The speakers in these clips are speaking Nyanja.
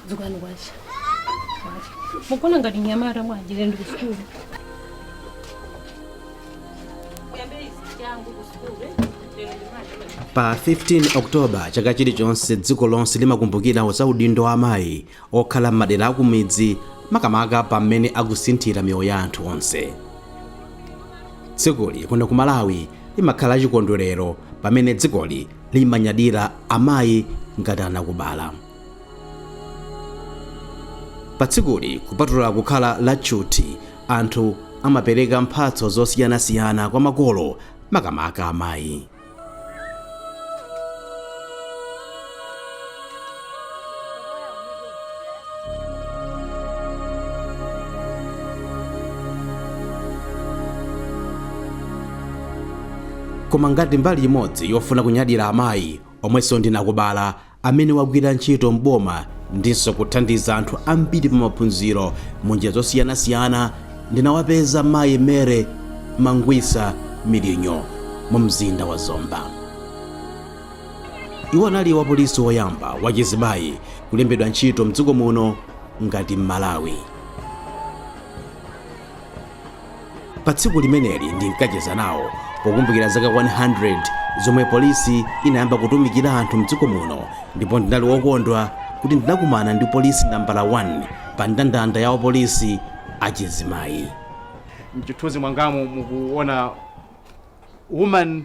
dzukani kwacha mukuona ngati mnyamata wajire ndi kusukulu pa 15 oktoba chaka chilichonse dziko lonse limakumbukira za udindo wa amayi okhala m'madera akumidzi makamaka pamene akusinthira miyoyo ya anthu onse tsikuli kuno ku malawi limakhala chikondwerero pamene dzikoli limanyadira amayi ngati anakubala. Pa tsikuli, kupatula kukhala la tchuthi, anthu amapereka mphatso zosiyanasiyana kwa makolo, makamaka amayi. koma ngati mbali imodzi yofuna kunyadira amayi omwenso ndi anakubala amene wagwira ntchito m'boma ndinso kuthandiza anthu ambiri pa maphunziro mu njira zosiyanasiyana ndinawapeza mayi Mary Mangwiza milinyo mu mzinda wa zomba Iwo anali wapolisi woyamba wachizimayi kulembedwa ntchito mdziko muno ngati Mmalawi. Pa tsiku limeneli ndinkacheza nawo pokumbukira zaka 100 zomwe polisi inayamba kutumikira anthu mdziko muno ndipo ndinali wokondwa kuti ndinakumana ndi polisi nambala 1 pa ndandanda ya wapolisi achizimayi. M'chithunzi mwangamu mukuona woman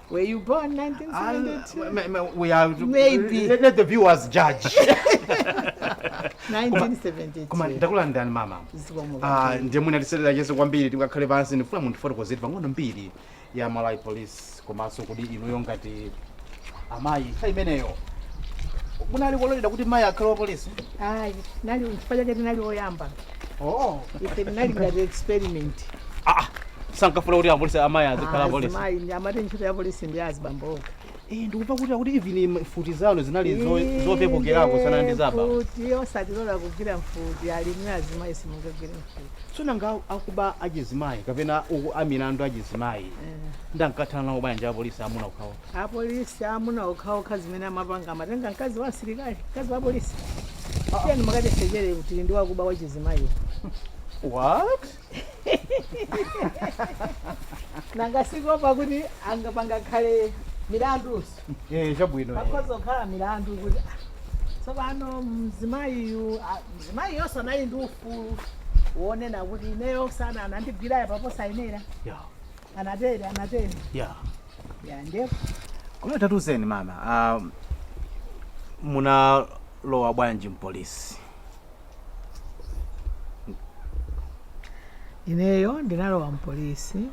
Were you born in 1972? Uh, ma- ma- we are Maybe. Let, let the viewers judge. 1972. Koma ndakulandirani mama. Zikomo Ah, kwambiri. ndiye mwina tisanacheze kwambiri tingakhale pansi ndifuna mundifotokozere pang'ono mbiri ya Malawi Police komanso kuti inuyo ngati amayi nthawi imeneyo kunali kololedwa kuti mayi akhale wa polisi Ayi, n'chifukwa chake tinali oyamba. oh ife tinali ngati experiment ah sankafuna kuti apolisi amayi azikhala apolisi azimayi ndiye amati ntchito ya polisi ndi ya azibambo okha eh ndikumva kuti akuti even mfuti zanu zinali zo- zopepukerako kusiyana ndi za aba mfuti osatilola kugwira mfuti amati azimayi simungagwire mfuti tsono nanga akuba achizimayi kapena uku amilandu achizimayi Eh. ankathana nawo bwanji apolisi amuna okhawo Apolisi amuna okhaokha zimene amapanga amatenga mkazi wa msilikali, mkazi wa polisi. Tiyeni mukatisechere kuti ndi wakuba wa chizimayi. What? Nanga si kuopa kuti anga pangakhale milandu. Eh, chabwino. eh. Pakhoza kukhala milandu kuti ah, tsopano mzimayiyu ah, mzimayiyonso anali ndi ufulu wonena kuti ineyo sana anandigwira ujeni posayenera. Yeah. Anatere, anatere. Yeah. Ya, ndefu. Koma tatuzeni mama, ah, munalowa bwanji mpolisi? Ineyo ndinalowa mpolisi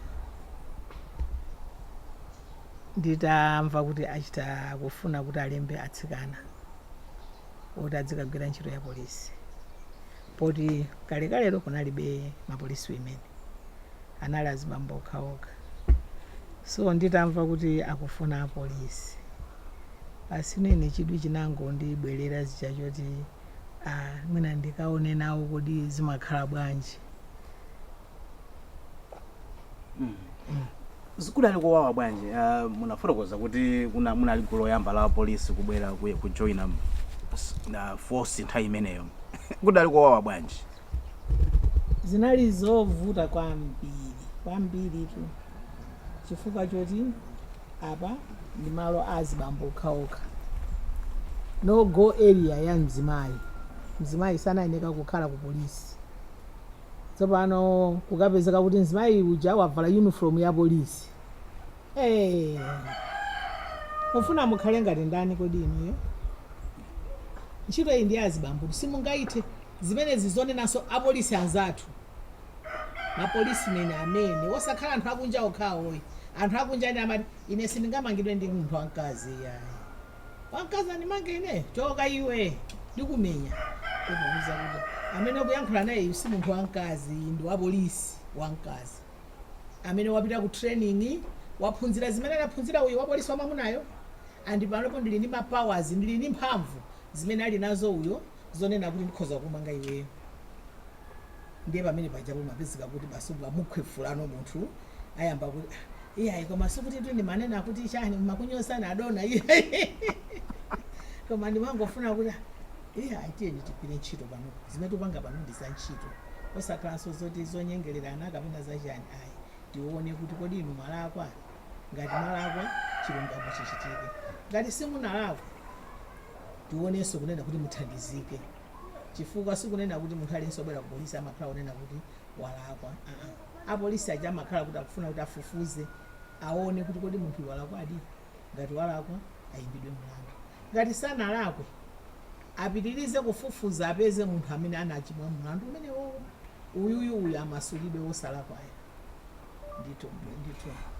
nditamva kuti achita kufuna kuti alembe atsikana oti adzikagwira ntchito ya polisi. poti kalekalelo kunalibe ma police women anali azibambo okhaokha so nditamva kuti akufuna apolisi basi inenso chidwi chinangondibwerera chija choti ah, mwina ndikaone nawo kodi zimakhala bwanji kudali kowawa bwanji uh, munafotokoza kuti kuna munali gulu loyamba la polisi kubwera ku- kujoina m- s- na force nthawi imeneyo kudali kowawa bwanji zinali zovuta kwambiri kwambiritu chifukwa choti apa ndi malo a azibambo okhaokha no go area ya mzimayi mzimayi sanayeneka kukhala ku polisi Tsopano kukapezeka kuti mzimayi uja wavala uniform ya polisi. Eee! Mufuna mukhale ngati ndani kodi inuyo? Ntchito iyi ndi ya azibambotu simungaithe. Zimenezi zonenanso apolisi anzathu. Ma police men amene osakhala anthu akunja okha ayi. Anthu akunja ena amati ine sindingamangidwe ndi munthu wamkazi iyayi. wamkazi andimange ine choka iwe ndikumenya kumuuza kuti amene ukuyankhula naye iyu si munthu wamkazi ndi wapolisi wamkazi amene wapita ku training waphunzira zimene anaphunzira uyu wapolisi wamamunayo and panopo ndili ndi ma powers ndili ndi mphamvu zimene ali nazo uyo zonena kuti ndikhoza kukumanga iweyo ndiye pamene pajapo umapezeka kuti basi umamukhwefulano munthu ayamba kuti "Ah, iyayi koma sikutitu ndimanena kuti chani mokunyozani adona iyayi koma ndimangofuna kuti "Ah, iyayi tiyeni tigwire ntchito pano zimene tikupanga pano ndi za ntchito osakhalanso zoti zonyengererana kapena zachani ayi tione kuti kodi inu mwalakwa ngati mwalakwa chilungamo chichitike ngati simunalakwa tionenso kunena kuti muthandizike chifukwa sikunena kuti munthu aliyense obwera ku polisi amakhala kunena kuti walakwa aa apolisi aja amakhala kuti akufuna kuti afufuze aone kuti kodi munthu walakwadi ngati walakwa ayimbidwe mlandu ngati sanalakwe apitirize kufufuza apeze munthu amene anachimwa mlandu umenewowo uyuyuyu amasulidwe wosalakwayo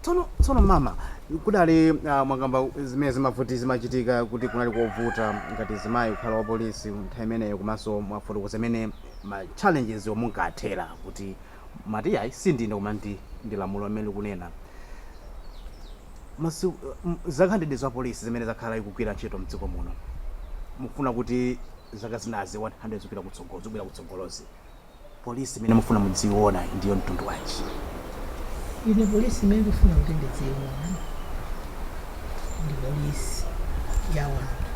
tsono tsono mama kudali uh, mwakamba zimene zimavuta zimachitika kuti kunali kovuta ngati mzimayi kukhala wa polisi nthawi imeneyo komanso mwafotokoza zimene ma challenges omwe munkathera kuti mumati ayi sindine koma ndi ndi lamulo amene likunena masiku m- zaka 100 za polisi zimene zakhala ikugwira ntchito mdziko muno mufuna kuti zaka zinazi 100 zikupita kutsogolo zikubwera kutsogolozi Police imene mufuna mudziyiona ndiyo mtundu wanji? Ine police imene ndikufuna kuti ndidziyiona ndi police ya wanthu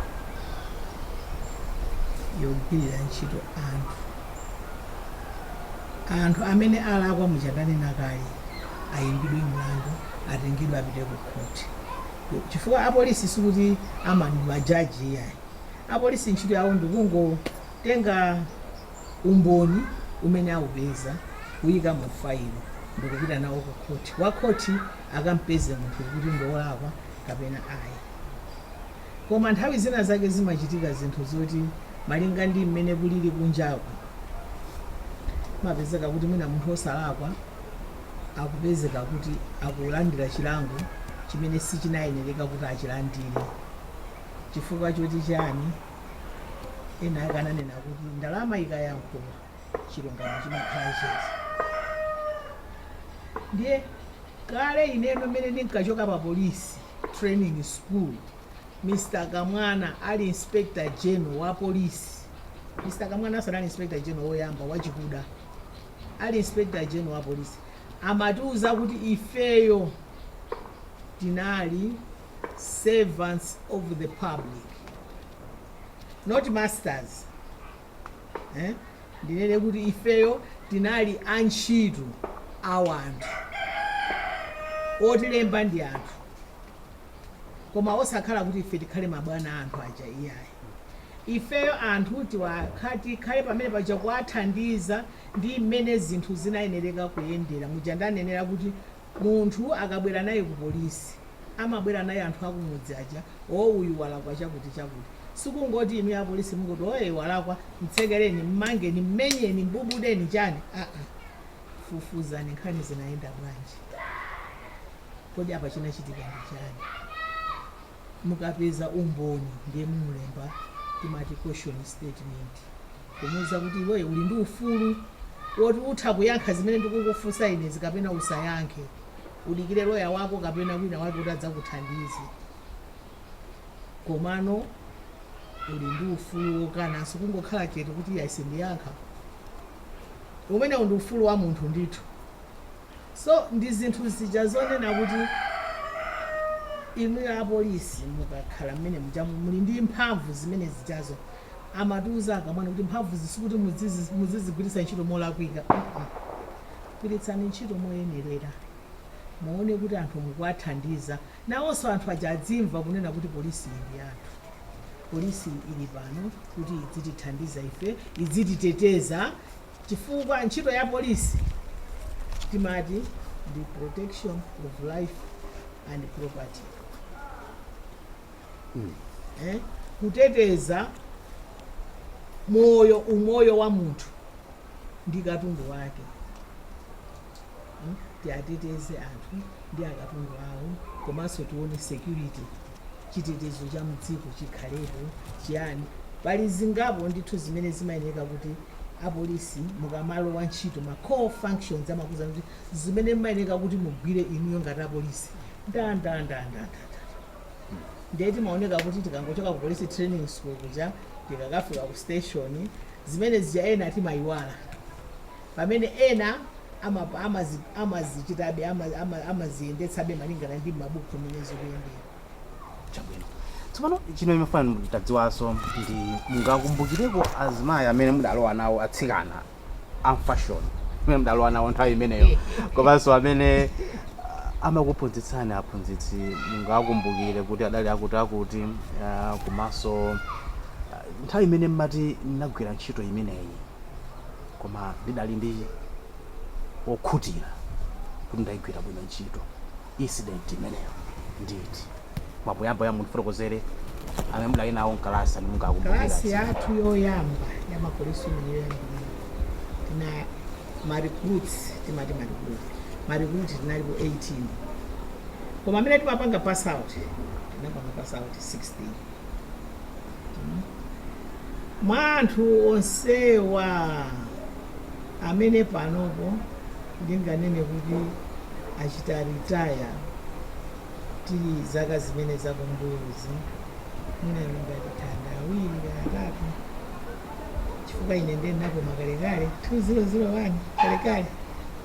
yogwirira ntchito anthu. Anthu amene alakwa muja ndanena kale ayimbidwe mlandu atengedwe apite ku khoti chifukwa a police sikuti amakhala ma judge iyayi. A police ntchito yawo ndikungotenga. umboni umene aupeza, kuuika mu failo ndi kupita nawo ku khoti. Wa khoti akam'peze munthu kuti ndi wolakwa kapena ayi. Koma nthawi zina zake zimachitika zinthu zoti malinga ndi mmene kulili kunjaku, amapezeka kuti mwina munthu wosalakwa akupezeka kuti akulandira chilango chimene sichinayenereka kuti achilandire. Chifukwa choti chiyani? ena ake ananena kuti ndalama ikayankhula chilungamo chimakhala chete ndiye kale ineyo mmene ndinkachoka pa polisi training school mr kamwana ali inspector general wa polisi mr kamwana anali inspector general woyamba wachikuda ali inspector general wa polisi amatiuza kuti ifeyo tinali servants of the public not masters eh? ndinene kuti ifeyo tinali antchito a wanthu otilemba ndi anthu koma osakhala kuti ife tikhale mabwana a anthu aja iyayi ifeyo anthu tiwakha tikhale pamene paja kuwathandiza ndi mmene zinthu zinayenereka kuyendera muja ndanenera kuti Munthu akabwera naye ku polisi amabwera naye anthu akumudzi aja, oh uyu walakwa chakuti chakuti. Sikungoti inuyo apolisi mungoti oh ee walakwa, mtsekereni, mmangeni, mmenyeni, mbubudeni, chani, aa. Fufuzani nkhani zinayenda bwanji. Kodi apa chinachitika ndi chani? mukapeza umboni ndiye mumulemba timati caution statement kumuuza kuti iweyo uli ndi ufulu woti utha kuyankha zimene ndikukufunsa inezi kapena usayankhe udikire loya wako kapena wina wake kuti adzakuthandize komano uli ndi ufulu wokananso kungokhala chete kuti ayi sindiyankha umenewo ndi ufulu wa munthu ndithu So ndi zinthu zija zonena kuti inuyo apolisi mukakhala mmene mujamu muli ndi mphamvu zimene zijazo amatiuza akuluakulu kuti mphamvuzi sikuti muzizigwiritsa ntchito molakwika gwiritsani ntchito moyenerera muone kuti anthu mukuwathandiza nawonso anthu aja adzimva kunena kuti polisi iyi ndi yathu polisi ili pano kuti idzitithandiza ife idzititeteza chifukwa ntchito ya polisi timati ndi protection of life and property eh? kuteteza moyo umoyo wa munthu ndi katundu wake tiateteze anthu ndi akatundu awo komanso tione security chitetezo cha mdziko chikhalepo chiyani pali zingapo ndithu zimene zimayeneka kuti apolisi mukamalowa ntchito ma core functions amakuuzani kuti zimene mmayeneka kuti mugwire inuyo ngati apolisi ndandanda ndiye timaoneka kuti tikangochoka ku police training school kuja tikakafika ku station zimene zija ena timayiwala Pamene ena amazichitabe, amaziyendetsabe malingana ndi mmabuku mmene zikuyendera. Chabwino. Tsopano china chimene ndimafuna nditadziwanso ndi mungakumbukireko azimayi amene mudalowa nawo atsikana amfashoni amene mudalowa nawo nthawi imeneyo komanso amene ah, amakuphunzitsani aphunzitsi mungakumbukire kuti adali akuti akuti ah, komanso ah, nthawi imene mmati ndinagwira ntchito imeneyi Koma ndidali wokhutira kuti ndaigwira bwino ntchito. Incident imeneyo ndi iti? Mwina poyamba mundifotokozere amene mudali nawo mkalasi amene mungakumbukire Kalasi yathu yoyamba ya ma policewomen tinali ma recruits timati ma recruit ma recruit tinalipo 18 koma amene tinapanga pass out tinapanga pass out 16 Mwa anthu onsewa amene panopo ndinganene kuti achita retire m'zaka zimene zakumbuyozi mwina angathe awiri kaya atatu chifukwa ine ndiye ndinapuma kalekale 2001 kalekale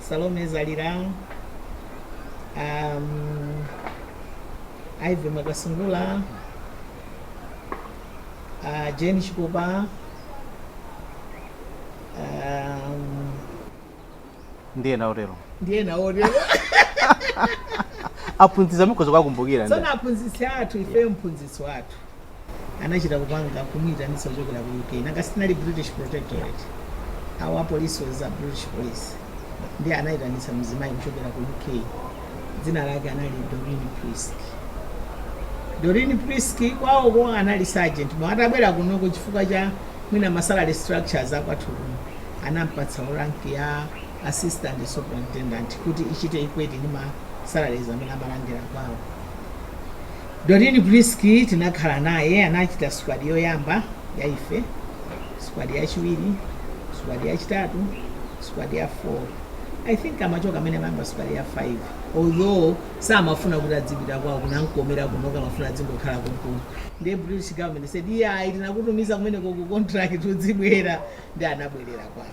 Salome Zalira, um, Ivy Mwakasungula, uh, Jane Chikopa, um, ndiye naotero ndiye naotero aphunzitsi mukhoza kuwakumbukira tsono aphunzitsi athu ifeyo mphunzitsi wathu anachita kupanga kumuitanitsa kuchokera ku uk nanga sitinali british protectorate our police was a british police ndiye anayitanitsa mzimayi kuchokera ku uk dzina lake anali doreen prisk doreen prisk kwawoko anali sergeant koma atabwera kunoko chifukwa cha mwina masalary structures akwathu kuno anampatsa rank ya assistant superintendent kuti ichite equate ndi ma salaries amene amalandira kwawo Doreen Prisk tinakhala naye, anachita squad yoyamba ya ife, squad yachiwiri, squad yachitatu, squad ya 4. I think amachoka amene amayamba squad ya 5. Although samafuna kuti adzipita kwawo kunamkomera kuno amafuna adzingokhala konkuno. Ndiye British government said, "Iyayi tinakutumiza kumeneko ku contract udzibwera." Ndi anabwerera kwawo.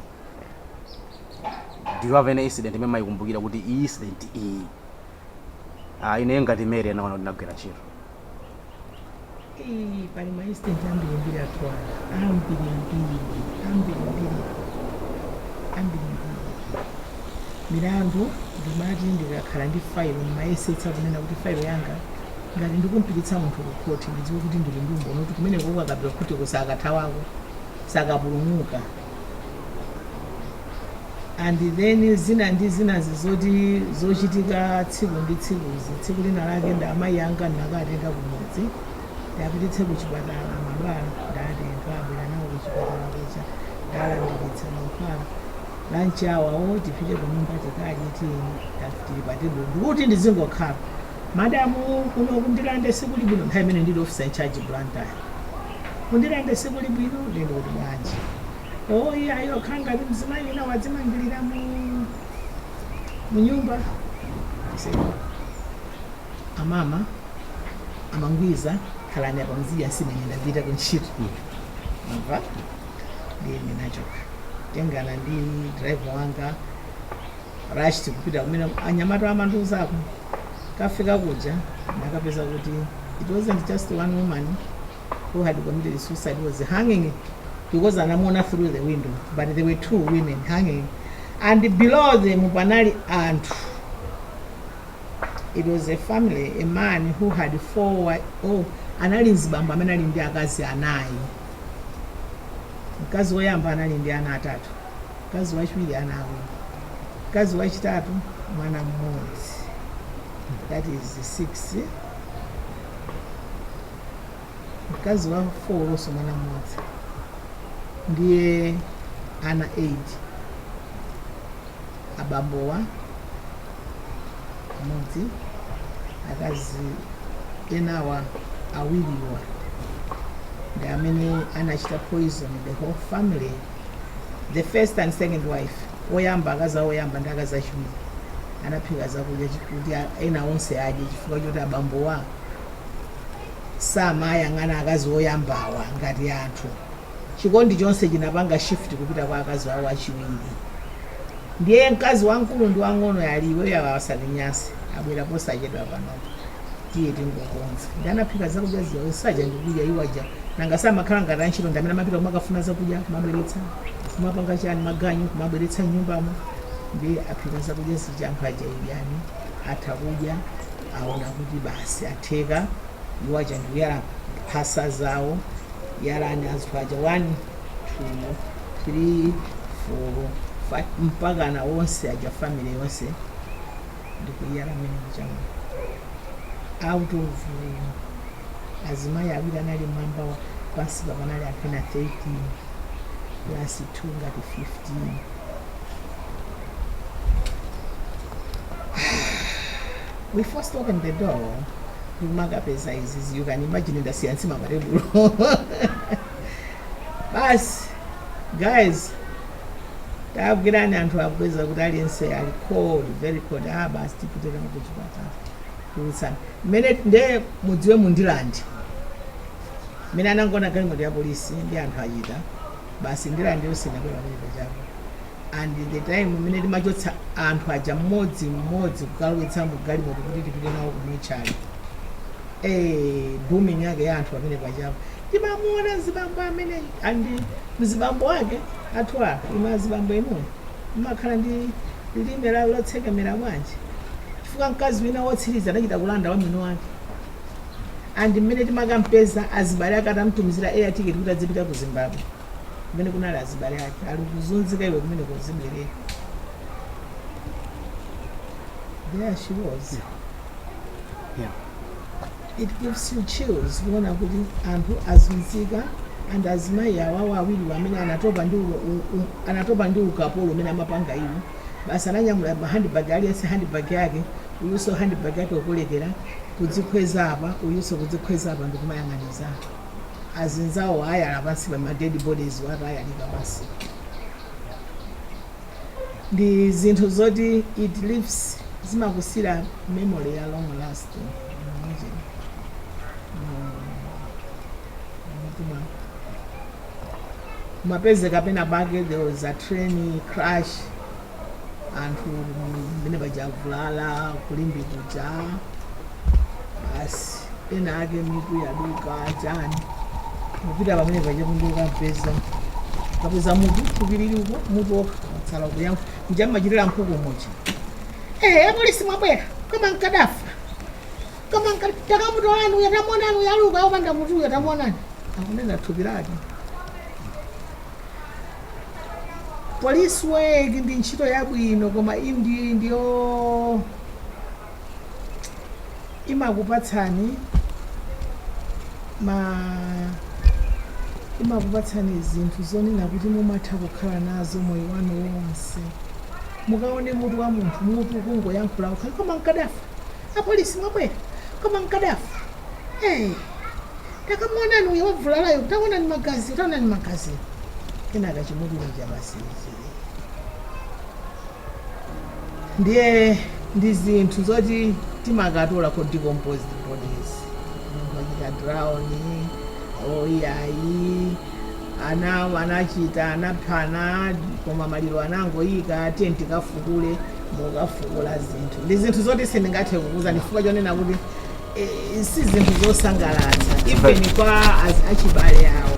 Do you have any incident imene maikumbukira kuti iyi incident iyi Ah, ineyo ngati Mary ndinaona kuti ndinagwira ntchito. Ii, pali ma incident ambirimbiri athu ana ambirimbiri ambirimbiri ambirimbiri milandu ndimati ndikakhala ndi failo ndimayesetsa kunena kuti failo yanga ngati ndikumpititsa munthu ku khoti ndidziwe kuti ndili ndi umboni kuti kumeneko ukakapita khoti usakathaweko usakapulumuke and then zina ndi zinazi zoti zochitika tsiku ndi tsikuzi tsiku lina lake ndi amayi anga ndinakatenga kumudzi ndiwapititse ku chipatala mankhwala ndatenga abwera nawo ku chipatala kucha ndalandiritsa mankhwala lunch hour tipite ku nyumba tikadye tiyeni tili pa tebulo ndikuti ndizingokhala Madam kuno ku Ndirande sikuli bwino nthawi imene ndili officer in charge Blantyre. Ku Ndirande sikuli bwino ndiye ndikuti bwanji. Oh iyayi okhala ngati mzimayi wina wadzimangirira munyumba. I said, amama amangwiza khalani apa muzidya nsima ine ndapita ku ntchito. Mva? Ndiye ndinachoka. Tengana ndi driver wanga Rashid kupita kumene anyamata amandiuzako Kafika kuja ndakapeza kuti it wasn't just one woman who had committed suicide, was hanging because anamuona through the window but there were two women hanging and below them panali anthu it was a family a man who had four wi- oh anali mzibambo amene anali ndi akazi anayi mkazi woyamba anali ndi ana atatu Mkazi wachiwiri ana awiri. Mkazi wachitatu mwana mmodzi. That is 6. Mkazi wa 4 onso mwana mmodzi. Ndiye ana 8. Abambowa mmodzi. Akazi enawa awiriwa ndi amene anachita poison the whole family. The first and second wife, oyamba, akazi oyamba ndi akazi achiwiri, anaphika zakudya chi- kuti a- ena onse adye chifukwa choti abambowa samayang'ana akazi oyambawa ngati anthu. Chikondi chonse chinapanga shift kupita kwa akazi awo achiwiri. Ndiye mkazi wamkulu ndi wang'ono ali iweyo awa asatinyanse abwera posachedwa panopa. tiye tingokonza nde anaphika zakudya zija osaja ndikudya iwowaja nanga samakhala ngati antchito ndi amene amapita kumakafuna zakudya kumabweretsa kumapanga chani maganyu kumabweretsa mnyumbamo nde aphika zakudya zija anthu aja idyani atha kudya aona kuti basi atheka iwo aja ndikuyala mphasa zawo yalani zinthu zija 1 2 3 4 5 mpaka ana onse aja family yonse ndikuyala mmene muchamu out of um, azimayi awiri anali mwamba wa- pansi pa panali anthu ena 13 plus 2 ngati 15 we first opened the door ndikumangapeza izizi you can imagine ndasiya nsima patebulo basi guys tagwirani anthu akupeza kuti aliyense ali cold very cold ah basi tipitira kuchipatala kulusana mmene nde mudziwe mu Ndirande mmene anangoona galimoto ya polisi nde anthu achita basi Ndirande yonse inabwera pamene pachapo and the time mmene timachotsa anthu aja mmodzi mmodzi kukalowetsa mu galimoto kuti tipite nawo ku mortuary eh booming yake ya anthu pamene pachapo timamuona mzibambo amene and mzibambo wake ati ah inu azibambo inuyo mmakhala ndi lilime lotsekemera bwanji chifukwa mkazi wina wotsiriza anachita kulanda wa mwini wake and mmene timakampeza azibale ake atamtumizira air ticket kuti azipita ku zimbabwe kumene kunali azibale ake ali kuzunzika iwe kumene kuzibwerera there she was Yeah. It gives you chills kuona kuti anthu azunzika and azimayi awawa awiriwa amene anatopa ndi u- u- u- anatopa ndi ukapolo umene amapanga iwo basi ananyamula ma handbag aliyense handbag yake uyuso handbag yake kukolekera kudzikhweza apa uyuso kudzikhweza apa ndikumayang'aniza azinzawo ayala pansi pa ma dead bodies atayalika pansi ndi zinthu zoti it leaves zimakusiyira memory ya long lasting imagine mtima mukapeze kapena bake there was a train crash anthu mmene avulalira kulimbikuja basi ena ake mitu yaduka chani kupita pamene paja kunjoka kupeza kapeza mutu kupiriri uko mutu wokha watsala kuyangu mmene imachitira nkhuku mochi eh apolisi mwabwera koma nkadafa takamuonani uyo tamuonani uyo ali uko opanda mutuyo tamuonani akunena thupi lake police work ndi ntchito yabwino koma indi ndiyo imakupatsani ma imakupatsani zinthu zonena kuti mumatha kukhala nazo moyo wanu wonse mukaone mutu wa munthu mutu kungoyankhula wokha koma mkadafa apolisi mwabwera koma mkadafa hey, takamuonani uyo wavulalayo taonani magaziwo taonani magaziwo kenaka chimutu chija basi ndiye ndi zinthu zoti timakatola ma decomposed bodies munthu wachita drown or ayi awa anachita anaphana koma maliro anangoyika tiyeni tikafukule mukafukula zinthu ndi zinthu zoti sindingathe kukuuzani chifukwa chonena kuti eh, si zinthu zosangalatsa even kwa az- achibale awo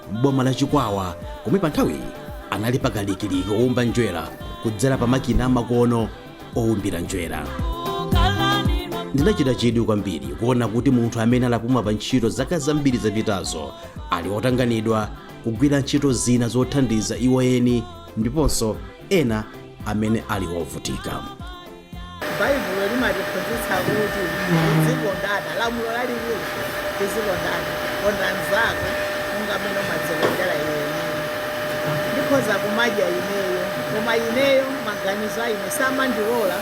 m'boma la Chikwawa komwe panthawiyi anali pakalikiliki woumba njerwa kudzera pa makina amakono owumbira njerwa. Ndinachita chidwi kwambiri kuona kuti munthu amene anapuma pa ntchito zaka zambiri zapitazo ali otanganidwa kugwira ntchito zina zothandiza iwo eni ndiponso ena amene ali ovutika. Baibulo limatiphunzitsa kuti tizikondana. Lamulo lalikulu, tizikondana. Konda mnzako monga mmene umadzikondera iwe mwini. Ndikhoza kumadya ineyo, koma ineyo maganizo a ine samandilola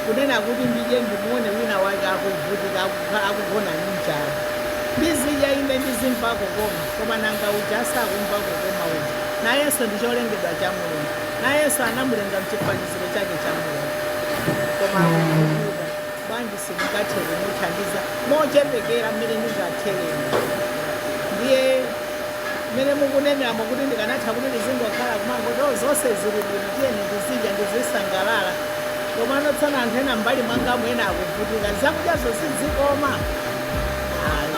kunena kuti ndidye ndimuone wina wake akuvutika, akukha- akugona ndi njala. Ndizidya ine ndizimva kukoma, koma nanga uja asakumva kukoma uja? Nayenso ndi cholengedwa cha Mulungu. Nayenso anamulenga mchifaniziro chifuniro chake cha Mulungu koma akuvutika bwanji sindingathe kumuthandiza mochepekera mmene ndingathereni ndiye mmene mukuneneramo kuti ndikanatha kuti ndizingokhala kumangoti "Oh, zonse zili bwino tiyeni ndizidya ndizisangalala komano pamene anthu ena mbali mwangamu ena akuvutika zakudyazo sizikoma ayi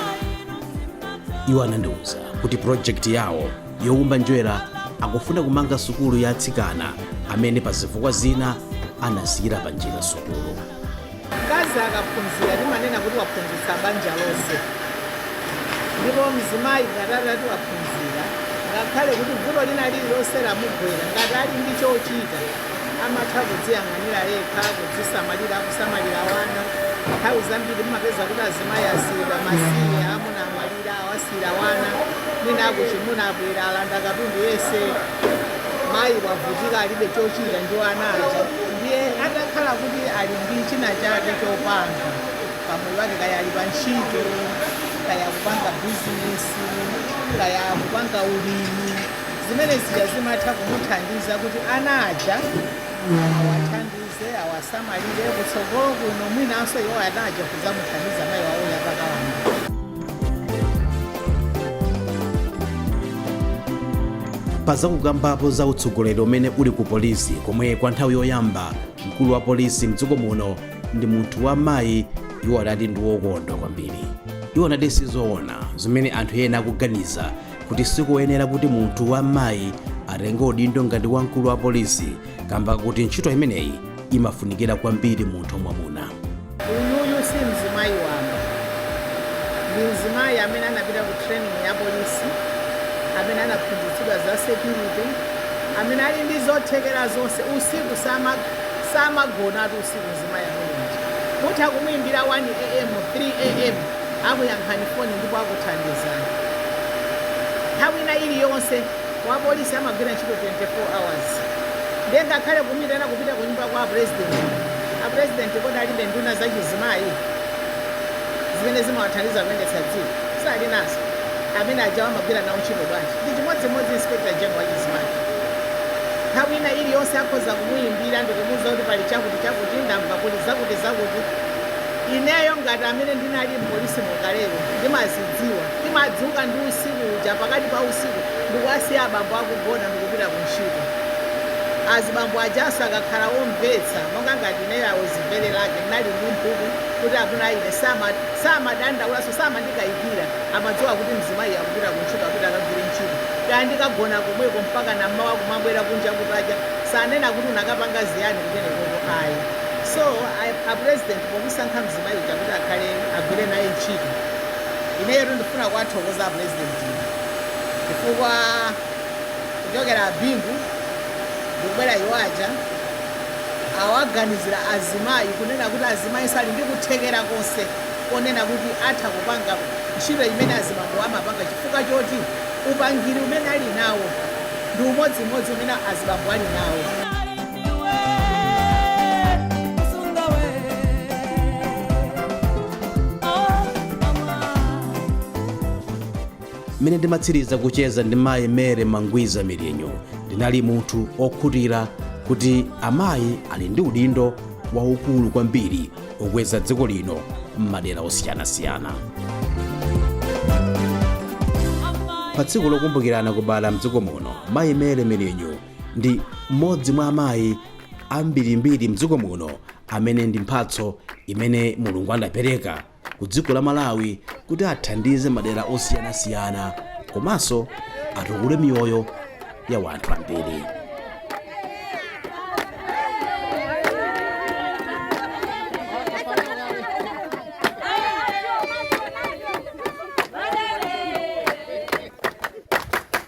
iwo anandiwuza kuti pulojekiti yawo youmba njerwa akufuna kumanga sukulu ya atsikana amene pa zifukwa zina anasiyira panjira sukulu. Mkazi akaphunzira timanena kuti waphunzitsa banja lonse, ndipo mzimayi ngati atati waphunzira, ngakhale kuti vuto lina lililonse lamugwera, ngati ali ndi chochita amatha kudziyang'anira yekha, kudzisamalira, kusamalira ana. Nthawi zambiri mumapeza kuti azimayi asiyidwa masiye, amuna amwalira, awasiya. ira ana mwina akuchimuna abwera alanda katundu yense mayi wavutika alibe chochita ndi ana aja ndiye atakhala kuti ali ndi china chake chopanga pamoyo wake kaya ali pa ntchito kaya kupanga bizinesi kaya kupanga ulimi zimene zija zimatha kumuthandiza kuti ana aja awathandize ze awasamalire kutsogolo kuno mwinanso iwo ana aja kudzamuthandiza mayi wawoyo atakalamba. pa zakukambapo za utsogoleri umene uli ku polisi komwe kwa nthawi yoyamba mkulu wa polisi mdziko muno ndi munthu wa mayi iwo adati ndi wokondwa kwambiri iwo adati sizoona zimene anthu ena akuganiza kuti sikuyenera kuti munthu wa mayi atenge udindo ngati wamkulu wa polisi kamba kuti ntchito imeneyi imafunikira kwambiri munthu wamwamuna uyuyu si mzimayi wamba ndi mzimayi amene anapita ku training ya polisi amene anaphunzitsidwa za security amene ali ndi zothekera zonse usiku sama- samagonatu usiku mzimayi ameneyi mutha kumuyimbira 1 am 3 am akuyankhani foni ndipo akuthandizani. Nthawi ina iliyonse Wapolisi amagwira ntchito 24 hours ndiye ngakhale kumuyitana kupita ku nyumba kwa president, a president kodi alibe nduna za chizimayi zimene zimawathandiza kuyendetsa dziko? Si ali nazo. Amene aja amagwira nawo ntchito bwanji? Ndi chimodzimodzi Inspector General wa chizimayi. Nthawi ina iliyonse akhoza kumuyimbira ndi kumuwuza kuti pali chakuti chakuti ndamva kuli zakuti zakuti. Ineyo ngati amene ndinali m'polisimo kaleyo ndimazidziwa. Ndimadzuka ndi usiku uja, pakati pa usiku, ndikuwasiya abambo akugona ndikupita ku ntchito. Azibambo ajanso akakhala omvetsa, monga ngati ineyo, I was very lucky, ndinali ndi mphumi kuti amuna anga ine sama, samadandaulanso, samandikayikira, amadziwa kuti mzimayi akupita ku ntchito, apita akagwire ntchito. Kaya ndikagona komweko mpakana mmawa kumabwera kunja kutacha, sanena kuti unakapanga ziyani kumenekoko ayi. So, a, a President pomusankha mzimayi uja kuti akhale, agwire naye ntchito, Ineyotu ndifuna kuwathokoza a Pulezidentiwa chifukwa kuchokera a Bingu ndikubwera iwo aja awaganizira azimayi kunena kuti azimayinso ali ndi kuthekera konse konena kuti atha kupanga ntchito imene azibambo amapanga chifukwa choti upangiri umene ali nawo ndi umodzimodzi umene azibambo ali nawo. mmene ndimatsiriza kucheza ndi mayi Mary Mangwiza Milinyu ndinali munthu okhutira kuti amayi ali ndi udindo waukulu kwambiri okweza dziko lino m'madera osiyanasiyana pa tsiku lokumbukira anakubala mdziko muno mayi Mary Milinyu ndi mmodzi mwa amayi ambirimbiri mdziko muno amene ndi mphatso imene mulungu anapereka ku dziko la malawi kuti athandize madera osiyanasiyana komanso atukule miyoyo ya wanthu ambiri